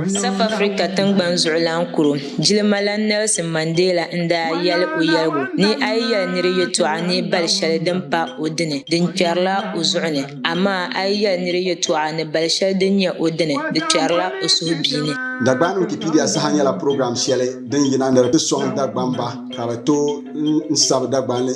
South Africa tingbani zuɣulan kuro jilimalana Nelson Mandela n daa yɛli o yɛligu ni a yi yɛli niri yɛtɔɣa ni bali shɛli din pa o dini di kpɛrila o zuɣu ni amaa a yi yɛli niri yɛtɔɣa ni bali shɛli din nyɛ o dini di kpɛrila o suhubihi ni. Dagbani Wikipedia saha nyɛla program shɛli din yina ni di ti sɔŋ Dagbamba ka bɛ tooi n sabi Dagbani.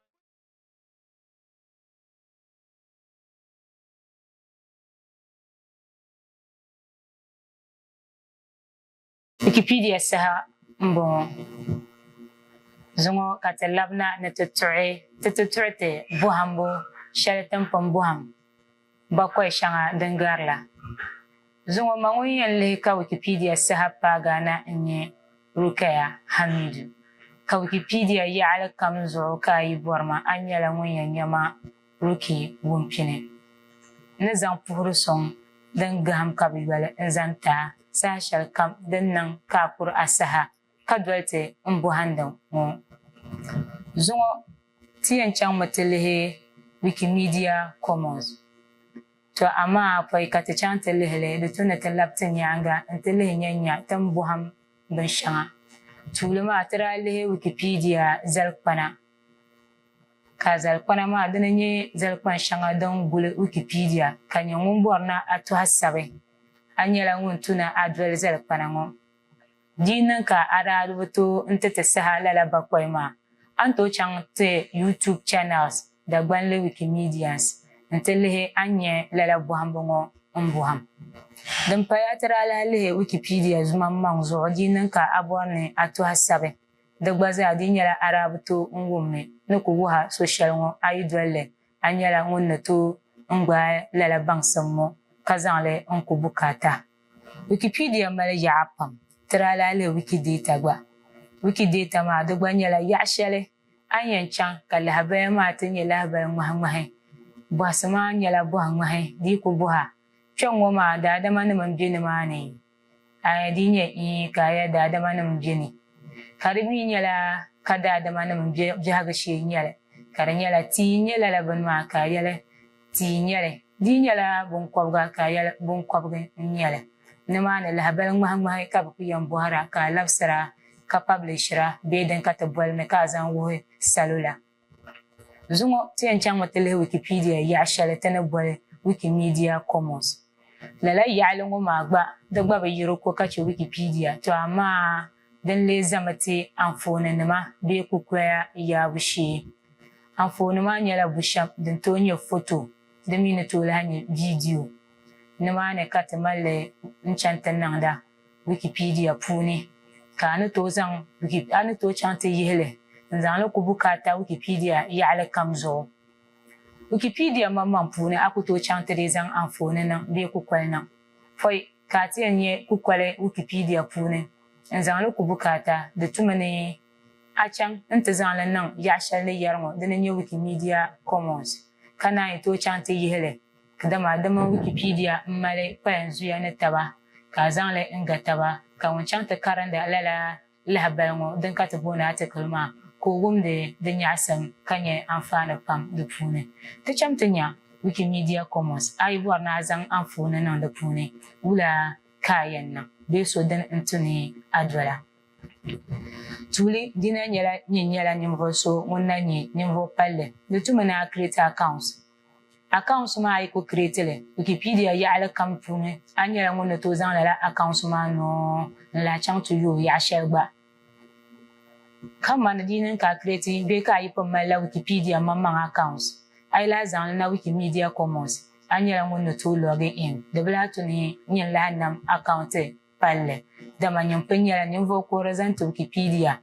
Wikipedia saha m-bɔŋɔ. Zuŋɔ ka ti labina ni ti tuɣi ti ti tuɣi ti bɔhimbu shɛli timpini bɔhim. Bakɔi shɛŋa din garila zuŋɔ ma ŋun yɛn lihi ka Wikipedia saha paagaa na n-nyɛ Rukaya Hamidu. Ka Wikipedia yaɣili kam zuɣu ka a yi bɔri ma, a nyɛla ŋun yɛn nya ma Ruki Wumpini ni zaŋ puhiri suŋ din gahim ka bi yoli n-zani ti a saha shɛli kam din niŋ ka a kuri a saha. ka doli ti n bɔhindi ŋɔ zuŋɔ ti yɛn chaŋmi ti lihi Wikimedia Commons, tɔ amaa pɔi ka ti chaŋ ti lihi li di tu ni ti labi ti nyaaŋa nti lihi nya nya tin bɔhim binshɛŋa tuuli maa ti daa lihi Wikipedia zalikpana ka zalikpana maa dini nyɛ zalikpan shɛŋa din guli Wikipedia ka nyɛ ŋun bɔri ni a tɔhi sabi a nyɛla ŋun tu ni a doli zalikpana ŋɔ. Di yi niŋ ka a daa di bi tooi n-ti ti saha lala bakɔi maa, a ni tooi chaŋ ti YouTube channels Dagbanli Wikimedians n-ti lihi a ni nya lala bɔhimbu ŋɔ m-bɔhim. Din paya ti daa lahi lihi Wikipedia zumaŋmaŋ zuɣu di yi niŋ ka a bɔri ni a tɔhi sabi di gba zaa di yi nyɛla a daa bi tooi n-wummi ni ku wuhi a so shɛli ŋɔ a yi doli li A nyɛla ŋun ni tooi n gbaai lala baŋsim ŋɔ ka zaŋ li n ku bukaata. Wikipedia mali yaɣa pam, ti daa lahi lihi Wikidata gba. Wikidata maa di gba nyɛla yaɣa shɛli a ni yɛn chaŋ ka lahabaya maa ti nyɛ lahabali ŋmahi ŋmahi. Bɔhisi maa nyɛla bɔhi ŋmahi dii ku bɔha kpɛŋ ŋɔ maa daadama nim n be ni maa ni. a ya dii nyɛ ii ka a ya daadamanim be ni, ka di mi nyɛla ka daadamanim biɛhigu shee n-nyɛ li, ka di nyɛla tii n-nyɛ lala bini maa ka a yɛli tii n-nyɛ li, dii nyɛla binkɔbiga ka a yɛli binkɔbigi n-nyɛ li, nimaani lahibali ŋmahiŋmahi ka bɛ ku yɛn bɔhira ka a labisira ka pablishira bee din ka ti boli ni ka a zaŋ wuhi salo la. Zuŋɔ ti yɛn chaŋmi ti lihi Wikipedia yaɣa shɛli ti ni boli Wikimedia Commons. Lala yaɣili ŋɔ maa gba di gba bi yiri ko ka chɛ Wikipedia tɔ amaa din lee zami ti anfooninima bee kukoya yaabu shee. Anfooni maa nyɛla bushɛm din tooi nyɛ foto di mi ni tooi lahi nyɛ viidiyo. Nimaani ka ti mali n-chaŋ ti niŋda. Wikipedia puuni ka a ni tooi zaŋ a ni tooi chaŋ ti yihi li n-zaŋ li ku bukaata Wikipedia yaɣili kam zuɣu. Wikipedia maŋmaŋ puuni a ku tooi chaŋ ti dii zaŋ anfooni niŋ bee kukoli niŋ pɔi ka a ti yɛn nya kukoli Wikipedia puuni n-zaŋ li ku bukaata di tumi ni a chaŋ n-ti zaŋ li niŋ yaɣ'shɛli ni yɛri ŋɔ di ni nyɛ Wikimedia Commons ka naan yi tooi chaŋ ti yihi li Dama di mini Wikipedia m-mali kpalanzuya ni taba, ka a zaŋ li n-ga taba, ka ŋun chaŋ ti karindi lala lahabali ŋɔ din ka ti booni atikili maa, ka o wumdi di nyaɣisim ka nya anfaani pam di puuni. Ti cham ti nya Wikimedia Commons, a yi bɔri ni a zaŋ anfooni niŋ di puuni, wula ka a yɛn niŋ? Bee so dini n-ti ni a doli a? Tuuli dina nyɛla nyin nyɛla ninvuɣ so ŋun na nyɛ ninvuɣ palli, di tumi ni a create account. Akaunti maa a yi ku kireeti li Wikipedia yaɣili kam puuni, a nyɛla ŋun ni tooi zaŋ lala akaunti maa noo n-lahi chaŋ ti yo yaɣ shɛli gba. Kamani di yi niŋ ka a kireeti bee ka a yi pun malila Wikipedia maŋmaŋ akaunti, a yi lahi zaŋ li na Wikimedia Commons, a nyɛla ŋun ni tooi lɔgi in. Di bi lahi tu ni n-yɛn lahi nam akaunti. palli, dama Nyimpi nyɛla ninvuɣ kuhiri zani ti Wikipedia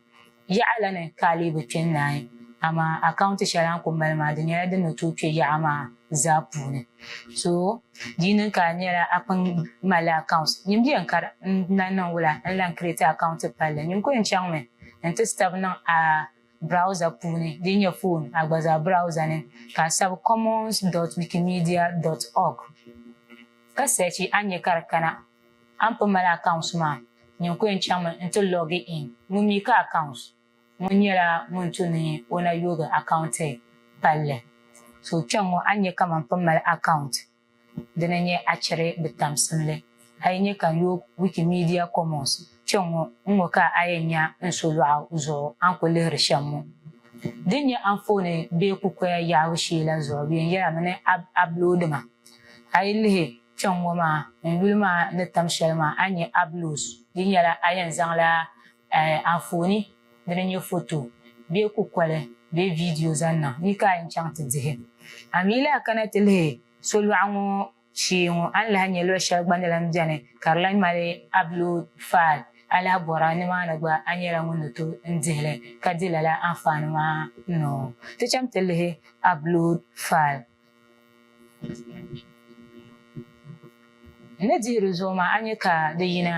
yaɣa la ni ka a lee bi kpe n-naai. Amaa akaunti shɛli a ni kul mali maa, di nyɛla din ni tooi kpe yaɣa maa zaa puuni. So di yi niŋ ka a nyɛla a kpini malila akaunt, nyin bɛ yɛn kari n-lan niŋ wula n-lan kiriti akaunti palli. Nyin ku yɛn chaŋmi nti sabi niŋ a browser puuni din nyɛ foon a gba zaa browser ni ka a sabi commons dot wikimedia dot org ka sɛchi a ni nya ka di kana. A ni pun mali accounts maa, nyin ku yɛn chaŋmi nti log in. Ŋun mi ka accounts ŋɔ nyɛla ŋun tu ni o na yoogi account palli. So kpɛŋŋɔ a ni nya ka man pun mali account di ni nyɛ a chɛri bi tamsimli. A yi nya ka n yoog Wikimedia Commons kpɛŋŋɔ n ŋɔ ka a yɛn nya n so lɔɣu zuɣu a ni ku lihiri shɛm ŋɔ. Din nyɛ anfooni bee kukoya yaabu shee la zuɣu bɛ yɛn yɛlimi ni a upload ma. A yi lihi. Kpɛŋ ŋɔ maa ŋun yuli maa ni tam shɛli maa a nya Ablos di nyɛla a yɛn zaŋla anfooni dini nyɛ foto bee kukoli bee viidiyo zaŋ niŋ ni ka a yɛn chaŋ ti dihi. A mi lahi kana ti lihi solɔɣu ŋɔ shee ŋɔ a ni lahi nya luɣ shɛli gba ni lan beni ka di lan mali Ablos faal a lahi bɔra nimaani gba a nyɛla ŋun ni tooi dihi li ka di lala anfaani maa noo. Ti chaŋ ti lihi Ablos faal. N ni dihi di zuɣu maa, a nya ka di yina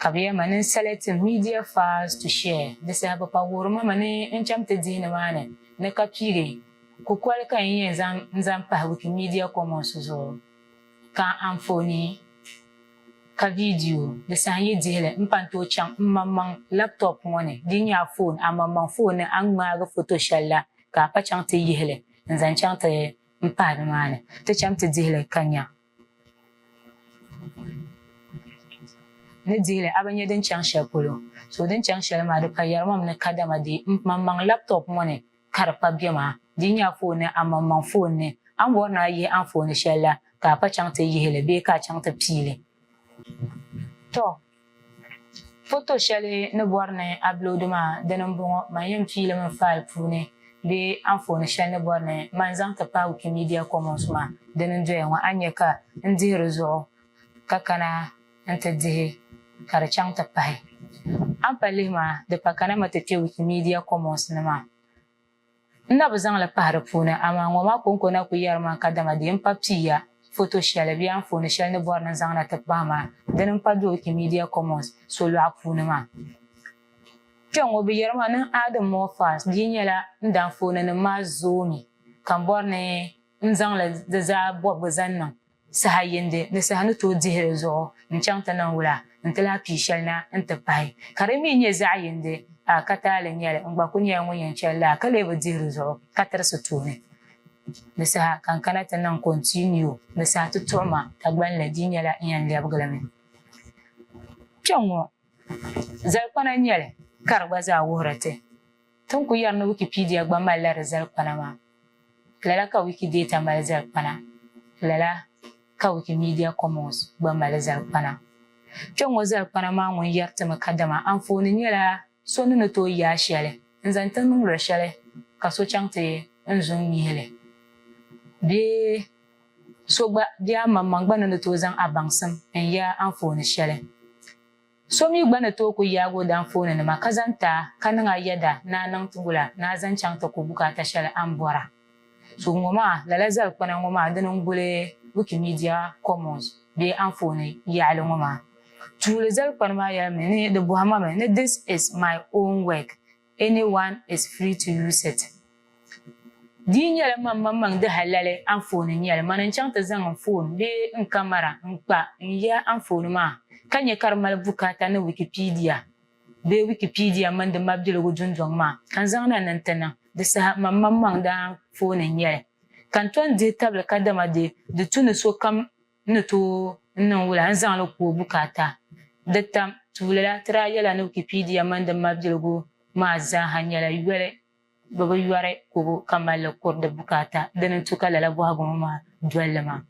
ka bɛ yɛma ni n sali tim media files to share. Di saha bɛ pa wuhiri ma mi ni n chaŋ ti dihi nimaani ni ka piigi kukoli ka n yɛn zaŋ n zaŋ pahi Wikimedia Commons zuɣu ka anfooni ka viidiyo di saha n yi dihi li m-pa n-tooi chaŋ m maŋmaŋ laptop ŋɔ ni din nyɛ a foon. Amaŋmaŋ foon ni a ni ŋmaagi foto shɛli la ka a pa chaŋ ti yihi li. n-zaŋ chaŋ ti m-pahi nimaani, ti cham ti dihi li ka nya. Ni dihi li a bi nya din chaŋ shɛli polo, so din chaŋ shɛli maa di ka yɛrimam ni kadama di maŋmaŋ laptop ŋɔ ni ka di pa bɛ maa. Di nya a foon ni a maŋmaŋ foon ni. A ni bɔri ni a yihi anfooni shɛli la ka a pa chaŋ ti yihi li bee ka a chaŋ ti pii li. Tɔ! Foto shɛli ni bɔri ni a biloodi maa dini m-bɔŋɔ, man yɛn piilimi faali puuni bee anfooni shɛli ni bɔri ni man zaŋ ti paai Wikimedia Commons maa dini n-doya ŋɔ a ni nya ka n dihi di zuɣu ka kana nti dihi ka di chaŋ ti pahi. A ni pa lihi maa di pa kana mi ti kpe Wikimedia Commons ni maa. N na bi zaŋ li pahi di puuni, amaa ŋɔ maa kɔŋko na ku yɛri ma n kadama di yɛn pa pii ya foto shɛli bee anfooni shɛli ni bɔri ni n zaŋ na ti pahi maa dini m-pa do Wikimedia Commons solɔɣu puuni maa. Kpɛŋŋɔ bɛ yɛri ma ni n add more files di yi nyɛla n di anfooninima maa zoomi ka m bɔri ni n zaŋ li di zaa bɔbigu zaŋ niŋ Saha yindi ni saha ni tooi dihi di zuɣu n-chaŋ ti niŋ wula nti lahi pii shɛli na nti pahi, ka di mi nyɛ zaɣ yindi a ka taali nyɛli n-gba kul nyɛla ŋun yɛn chɛli laa ka lee bi dihi di zuɣu ka tirisi tooni ni saha ka n kana ti niŋ continue ni saha ti tuɣi ma Dagbani la di nyɛla n yɛn lɛbigi li mi kpɛŋŋɔ. Zalikpana nyɛli ka di gba zaa wuhiri ti. Ti ni ku yɛri ni Wikipedia gba malila di zalikpana maa, lala ka Wikidata mali zalikpana, lala ka Wikimedia Commons gba mali zalikpana. Kpɛŋŋo zalikpana maa ŋun yɛri ti mi kadama anfooni nyɛla so ni ni tooi yaai shɛli n-zaŋ ti niŋdiri shɛli ka so chaŋ ti n zuŋ mihi li bee so gba bee amaŋmaŋ gba ni ni tooi zaŋ a baŋsim n-yaai anfooni shɛli. So mi gba ni tooi ku yaag o danfooninima ka zaŋ ti a, ka niŋ a yɛda ni a niŋ ti gu la, ni a zaŋ chaŋ ti ku bukaata shɛli a ni bɔr a. So ŋɔ maa, lala zalikpana ŋɔ maa dini n-guli Wikimedia Commons bee anfooni yaɣili ŋɔ maa. Tuuli zalikpani maa yɛlimi ni di bɔhimami ni This is my own work, Anyone is free to use it. Di yi nyɛla man man maŋ di halali anfooni n-nyɛli, man n-chaŋ ti zaŋ n foon bee n kamara n-kpa n ya anfooni maa ka nya ka di mali bukaata ni Wikipedia bee Wikipedia mini di mabiligu dundɔŋ maa ka n zaŋ na ni nti niŋ di saha man man maŋ di anfooni n-nyɛli ka n ton dihi tabili kadama di di tu ni sokam n ni tooi n niŋ wula n-zaŋ li ku o bukaata. Di tam tuuli la, ti daa yɛla ni Wikipedia mini di mabiligu maa zaaha nyɛla yoli, bɛ bi yɔri kubu ka mali li kuri di bukaata, dini n-tu ka lala bɔhigu ŋɔ maa doli li maa.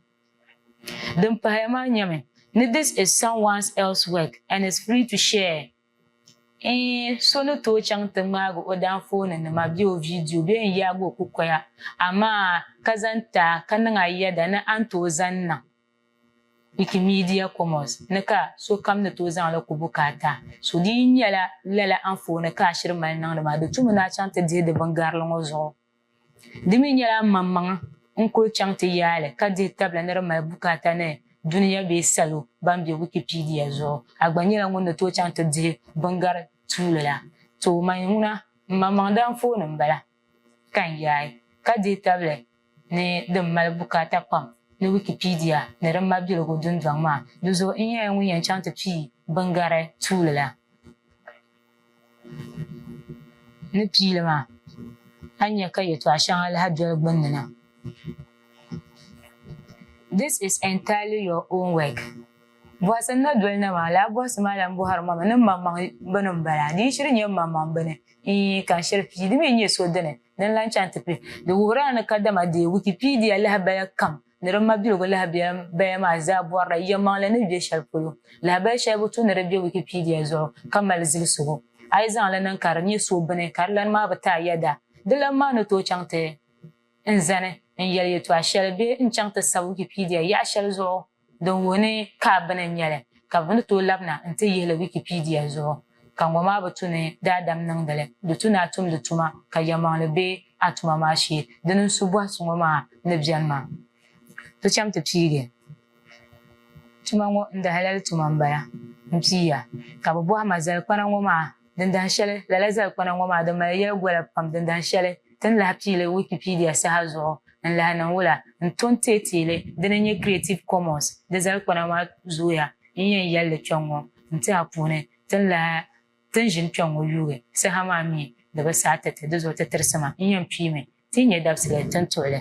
Din pahaya maa nyɛmi, ni this is someone's else work and is free to share. N so ni tooi chaŋ ti ŋmaagi o daanfooni nima bee o viidiyo bee n yaagi o kukoya, amaa ka zaŋ ti a ka niŋ a yɛda ni a ni tooi zaŋ niŋ Wikimedia Commons ni ka sokam ni tooi zaŋ li ku bukaata. So di yi nyɛla lala anfooni ka a shiri mali niŋdi maa, di tumi ni a chaŋ ti dihi di bingarili ŋɔ zuɣu. Di mi nyɛla maŋmaŋa n kuli chaŋ ti yaali ka dihi tabila ni di mali bukaata ni dunia bee salo ban be Wikipedia zuɣu. A gba nyɛla ŋun ni tooi chaŋ ti dihi biŋgari tuuli la. Too man ŋuna m maŋmaŋda anfooni m bala ka n yaai ka dihi tabili ni din mali bukaata pam ni Wikipedia ni di mabiligu dundɔŋ maa. Di zuɣu n nyɛla ŋun yɛn chaŋ ti pii biŋgari tuuli la. Ni piili maa, a ni nya ka yɛtɔɣ shɛŋa lahi doli gbunni na. This is entirely your own work. Bɔhisi n-na doli na maa, lala bɔhisi maa lan bɔhiri ma mi ni maŋmaŋ bini m-bala. Di yi shiri nyɛ m-maŋmaŋ bini n-yi ka shiri pii, di mi n-nyɛ so dini din lan chaŋ ti pili. Di wuhiri a ni kadama deei Wikipedia lahibali kam. ni di mabiligu lahabaya maa zaa bɔrila yɛlimaŋli ni be shɛli polo. Lahabaya shɛli bi tu ni di be Wikipedia zuɣu ka mali zilsigu. A yi zaŋ li niŋ ka di nyɛ suhubini ka di lani maa bi taai yɛda, di lani maa ni tooi chaŋ ti n zani n-yɛli yɛtɔɣ shɛli bee n-chaŋ ti sabi Wikipedia yaɣ shɛli zuɣu din wuhi ni ka bini n-nyɛ li, ka bɛ ni tooi labina nti yihi li Wikipedia zuɣu. ka ŋɔ maa bi tu ni daadam niŋdi li, di tu ni a tumdi tuma ka yɛlimaŋli be a tuma maa shee. Di ni su bɔhi so ŋɔ maa ni beni maa, ti cham ti piigi tuma ŋɔ n-dahalali tuma m-bala m-pii ya, ka bi bɔhi ma zalikpana ŋɔ maa din dahin shɛli, lala zalikpana ŋɔ maa di mali yɛli gola pam din dahin shɛli ti ni lahi pii li Wikipedia saha zuɣu n-lahi niŋ wula n-to n-teei teei li di ni nyɛ Creative Commons di zalikpana maa zooya n-yɛn yɛli li kpɛŋ ŋɔ. n-ti a puuni ti ni lahi ti ni ʒini kpɛŋ ŋɔ yuugi saha maa mi di bi saai ti ti, di zuɣu ti tirisi ma n-yɛn piimi ti yi nyɛ dabisili ti ni tuhi li.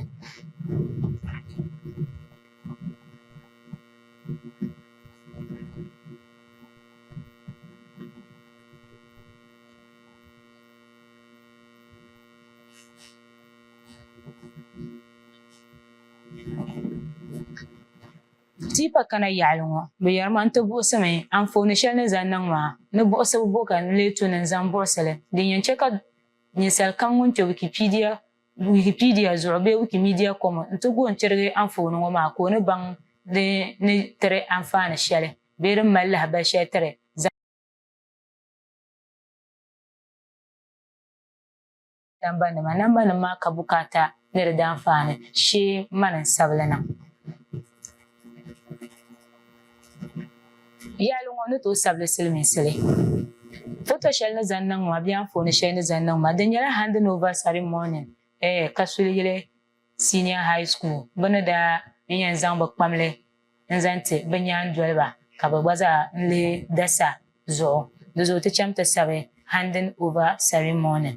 Tipa kana yaɣili ŋɔ, bɛ yɛri ma nti buɣisi mi anfooni shɛli ni zaŋ niŋ maa ni buɣisibu bo ka n lee tu ni n zaŋ buɣisi li. Din yɛn chɛ ka ninsal kam ŋun kpe Wikipedia Wikipedia zuɣu bee Wikimedia kɔmo nti gu n-tirigi anfooni ŋɔ maa ka o ni baŋ di ni tiri anfaani shɛli bee din mali lahibal shɛli tiri Nambanima, Nambanima maa ka bukaata ni di daanfaani shee mani n-sabili niŋ. Yaali ŋɔ ni tooi sabili silimiinsi li. Foto shɛli ni zaŋ niŋ ma bee anfooni shɛli ni zaŋ niŋ ma di nyɛla handing over ceremony eh ka suli yili. Senior High School bɛ ni daa yi yɛn zaŋ bɛ kpamli n-zaŋ ti bɛ nyaandoliba ka bɛ gba zaa n-lee dasa zuɣu di zuɣu ti chaŋ ti sabi handing over ceremony.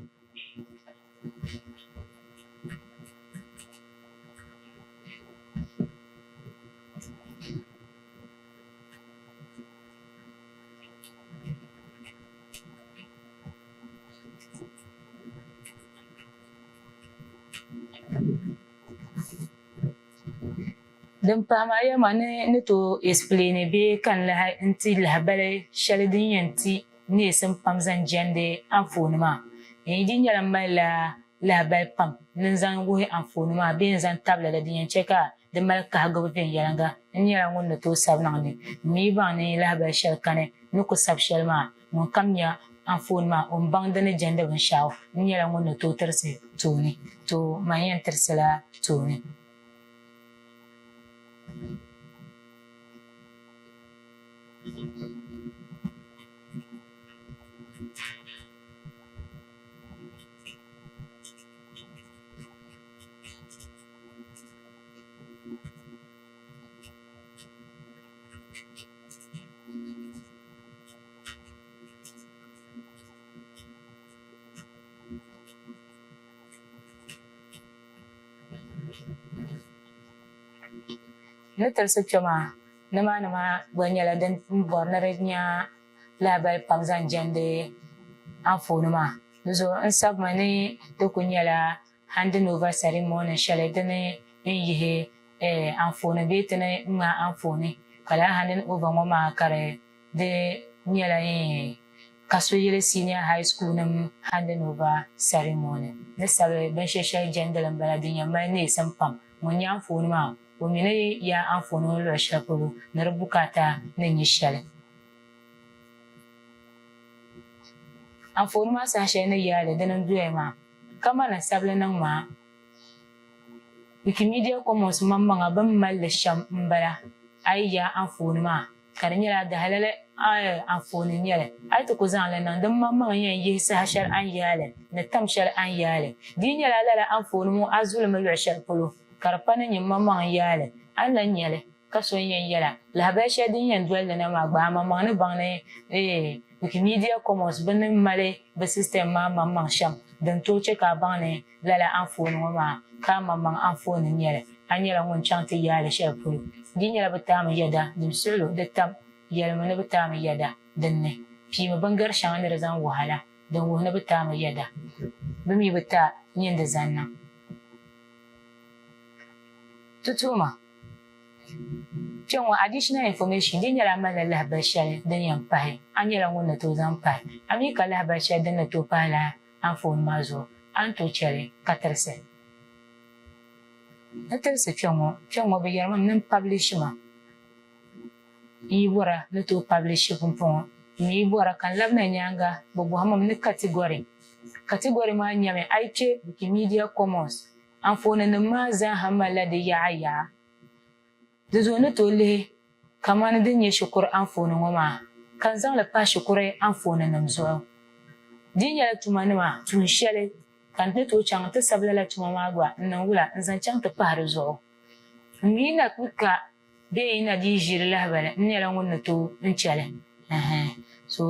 Din pahi maa yɛlima ni ni tooi explaini bee ka n lahi n ti lahibali shɛli din yɛn ti neesim pam zaŋ jɛndi anfooni maa. N yi di nyɛla m malila lahibali pam ni n zaŋ wuhi anfooni maa bee n zaŋ tabili li din yɛn chɛ ka di mali kahigibu viɛnyɛliŋga, n nyɛla ŋun ni tooi sabi niŋ ni m mi baŋ ni lahibali shɛli kani ni ku sabi shɛli maa. Ŋun kam nya anfooni maa, o ni baŋ di ni jɛndi binshɛɣu, n nyɛla ŋun ni tooi tirisi tooni, to man yɛn tirisila tooni. Ni tirisi kpe maa, nimaani maa gba nyɛla din bɔri ni di nya lahabali pam zaŋ jɛndi anfooni maa. Di zuɣu n sabimi ni di kuli nyɛla. Handing over ceremony shɛli di ni yɛn yihi anfooni bee ti ni ŋmaai anfooni ka lala handing over ŋɔ maa ka di di nyɛla ka so yili senior high school nim handing over ceremony ni sabi binshɛ shɛli jɛndili m-bala din yɛn mali neesim pam. Ŋun nya anfooni maa o mi ni yaai anfooni ŋɔ luɣ shɛli polo ni di bukaata ni nyɛ shɛli. Anfooni maa saha shɛli ni yaai li dini n-doya maa. Kaman asabili ni ŋmaa, Wikimedia Commons maŋmaŋa bɛn mali li shɛm m-bala. A yi yaai anfooni maa, ka di nyɛla a di halali anfooni n-nyɛ li, a yi ti ku zaŋ li niŋ din maŋmaŋa yɛn yihi saha shɛli a ni yaai li ni tam shɛli a ni yaai li. Di yi nyɛla lala anfooni ŋɔ a zulimi luɣ shɛli polo ka di pa ni nyɛ m maŋmaŋ n-yaai li, a ni lan nya li. Ka so yɛn yɛla, lahabali shɛli din yɛn doli di na maa gbaai maŋmaŋ ni baŋ ni Wikimedia Commons bini ni mali bɛ system maa maŋmaŋ shɛm din tooi chɛ ka a baŋ ni lala anfooni ŋɔ maa ka a maŋmaŋ anfooni n-nyɛ li. A nyɛla ŋun chaŋ ti yaali shɛli polo. Di nyɛla bɛ taami yɛda din suhi lu di tam yɛlimi ni bɛ taami yɛda din ni piimi bingar shɛŋa ni di zaŋ wahi la din wuhi ni bɛ taami yɛda bɛ mi bi taai nyin di zaŋ niŋ tutuhima. Kpɛŋɔ additional information di nyɛla a malila lahibali shɛli din yɛn pahi, a nyɛla ŋun ni tooi zaŋ pahi, a mi ka lahibali shɛli din ni tooi pahi la anfooni maa zuɣu, a ni tooi chɛli ka tirisi. N tirisi kpɛŋɔ, kpɛŋɔ bɛ yɛrimi m mini publish ma n yi bɔra ni tooi publish pumpɔŋɔ, m mi yi bɔra ka n labina nyaaŋa bɛ bɔhim m ni category, category maa nyɛmi a yi kpe Wikimedia Commons Anfooninim maa zaaha malila di yaɣa yaɣa. Di zuɣu ni tooi lihi kamani din nyɛ shikuru anfooni ŋɔ maa, ka n zaŋ li pahi shikuru anfooninim zuɣu. Di nyɛla tumanima tuun shɛli ka n ni tooi chaŋ nti sabi lala tuma maa gba n niŋ wula n-zaŋ chaŋ ti pahi di zuɣu? M mi na kpi ka. Bee yi na dii ʒiri lahibali, n nyɛla ŋun ni tooi n chɛ li. Ɛɛn. So,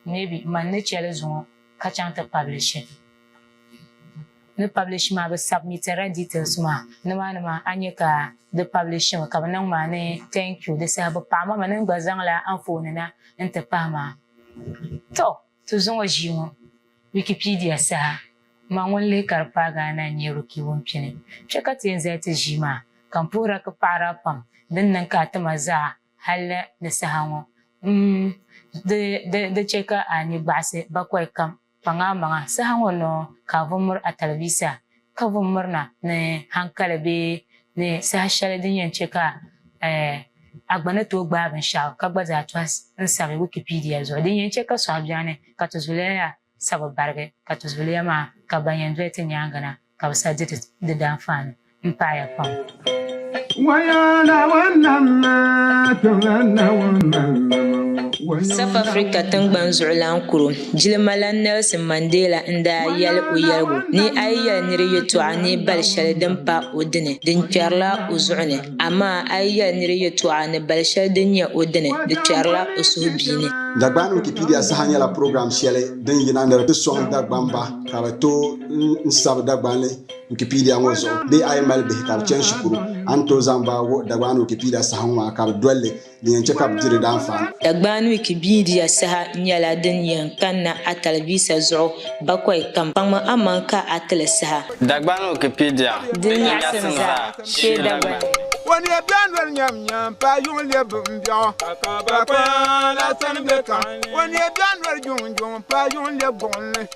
maybe man ni chɛ li zuŋɔ ka chaŋ ti publish li. Ni publish maa, bɛ submitila details maa. Nimaani maa a nya ka di publish mi ka bɛ niŋ ma ni thank you. Di saha bɛ paɣi ma mi ni n gba zaŋla anfooni na n ti pahi maa. Tɔ! Ti zaŋ o ʒii ŋɔ Wikipedia saha ma ŋun lihi ka di paagi a na n-nyɛ Ruki Wumpini. Kpe ka ti yɛn zali ti ʒii maa ka m puhira ki paɣiri a pam din niŋ ka a ti ma zaɣa hali ni saha ŋɔ m-m di chɛ ka a ni gbaɣisi bakɔi kam kpaŋ a maŋa saha ŋɔ noo ka a vumir a talivisa Ka bɛ mirina ni haŋkali bee ni saha shɛli din yɛn chɛ ka a gba ni tooi gbaai binshɛɣu ka gba zaa tɔhi n-sabi Wikipedia zuɣu. Din yɛn chɛ ka sɔhi bɛhini ka ti zuliya ya sabi barigi ka ti zuliya maa ka ban yɛn doli ti nyaaŋa na ka bɛ sabi di ti di danfaani m-paai ya pam. South Africa tingbani zuɣulan kuro jilimalan Nelson Mandela n daa yɛli o yɛligu ni a yi yɛli niri yɛtɔɣa ni bali shɛli din pa o dini di kpɛrila o zuɣu ni amaa a yi yɛli niri yɛtɔɣa ni bali shɛli din nyɛ o dini di kpɛrila o suhubiini. Dagbani Wikipedia saha nyɛla program shɛli din yina ni di soŋ Dagbamba ka bɛ tooi n sabi Dagbani. Wikipedia ŋɔ zuɣu bee a yi mali bihi ka bɛ chani shikuru, a ni tooi zaŋ ba wuhi Dagbani Wikipedia saha ŋɔ maa ka bɛ dol li din yɛn chɛ ka bɛ di di daanfaani. Dagbani Wikipedia saha nyɛla din yɛn kanna a talivisa zuɣu bakɔi kam. Kpaŋmi amaŋ ka a ti li saha. Dagbani Wikipedia, Di nyaɣisim zaa, Shee Dagbani. O ni yɛn bɛn doli nyam nyam paai yuŋ lɛb bimbɛɣu ka ka bakɔi la sani bɛ kam. O ni yɛn bɛn doli juŋ juŋ paai yuŋ lɛb gbuɣinli.